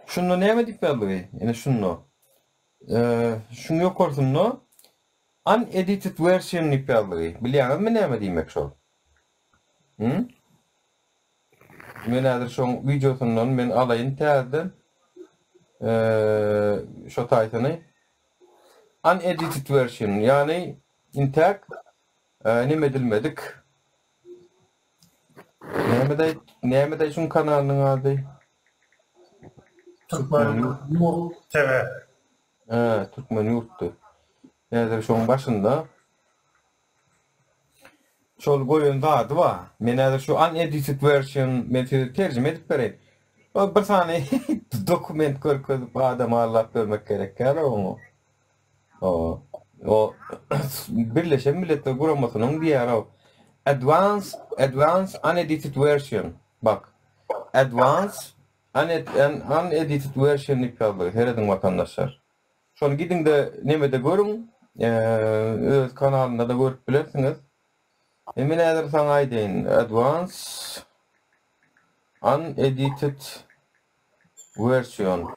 Şunda näme edip ýazlygy? Ine şunda. Şuň ýokarsynda Unedited version diýip ýazlygy. Bilýäňizmi näme diýmek şol? Hum? Men häzir şoň wideosyndan men alaýyn täzeden şo taýsyny. Unedited version, ýagny intäk näme edilmedik. Näme de näme de şuň kanalynyň ady? Türkmen ýurt TV. He, Türkmen ýurtdy. Häzir şoň başynda. Şol goýan zady ba. Men häzir şu an edited version men size terjime edip bereýin. O bir sany dokument görkezip adam allap bermek gerek ýaly oňa. Birleşen Milletler Guramasynyň diýýär-ä, Advanced, advanced unedited version. Bak, advanced unedited version diýip ýazdy. Serediň watandaşlar. Şony gidiň-de nemede görüň, öz kanalynda-da görüp bilersiňiz. Men häzir saňa aýdaýyn, advanced unedited version.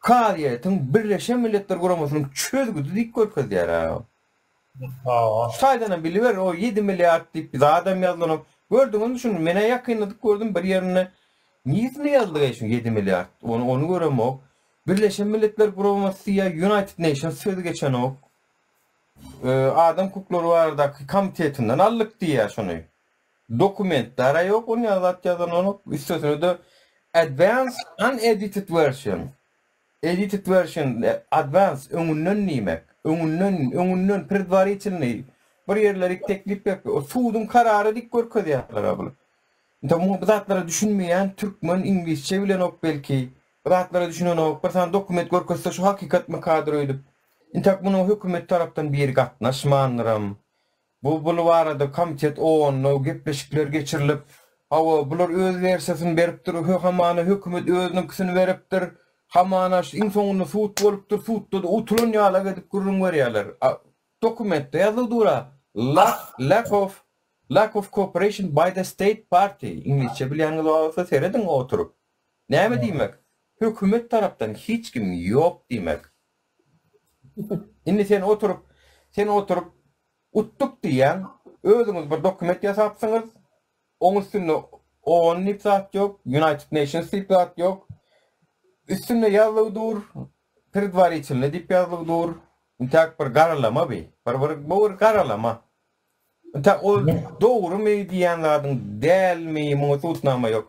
Kazyýetiň Birleşen Milletler Guramasynyň çözgüdi diýip görkezýär-ä. Şu taýdanam biliber, o ýedi milliard diýip bir zadam ýazylanok. Gördüňizmi şuny? Men-ä ýakynda dik gördüm bir ýerinde. Niresinde ýazylyk-eý şu ýedi milliard? Ony, ony göremok. Birleşen Milletler Guramasy diýýär, United Nations sözi geçenok. Adam hukuklary baradaky komitetinden aldyk diýýär şuny. Dokument dara ýok ony azat ýazanok üstesine-de advanced unedited version edited version advanced öňünden diýmek öňünden öňünden predwaritilnyý bir ýerleri teklip berip ol suduň karary diýip görkezýärler a bul indi muňa bu zatlara düşünmeýän türkmen iňlisçe bilenok belki bu zatlara düşünenok bir sany dokument görkezse şu hakykatmykadyr öýdüp intäk munuň hökümet tarapdan biri gatnaşmandyram Bu bul barada komitet onlaw gepleşikler geçirilip, hawa, bular öz wersiýasyny beripdir, hö, hamana hökümet özüniňkisini beripdir, hamana şu iň soňunda sud bolupdyr, sudda-da utulan ýalak edip gürrüň berýärler. A dokumentde ýazylyp dur-a, Lack, lack of, lack of cooperation by the state party, iňlisçe bilýäniňiz bar bolsa serediň oturyp. Näme diýmek? Hökümet tarapdan hiç kim ýok diýmek. Indi sen oturyp, sen oturyp utduk diýýäň, özüňiz bir dokument ýasapsyňyz, oň üstünde oon diýip zat ýok, United Nations diýip zat ýok. Üstünde ýazlygy dur, predwaritilny diýip ýazlygy dur. Intäk bir garalama bi, bir bir bu bir garalama. Intäk ol dogrumy diýýän zadyň dälmi, muňa subutnama ýok.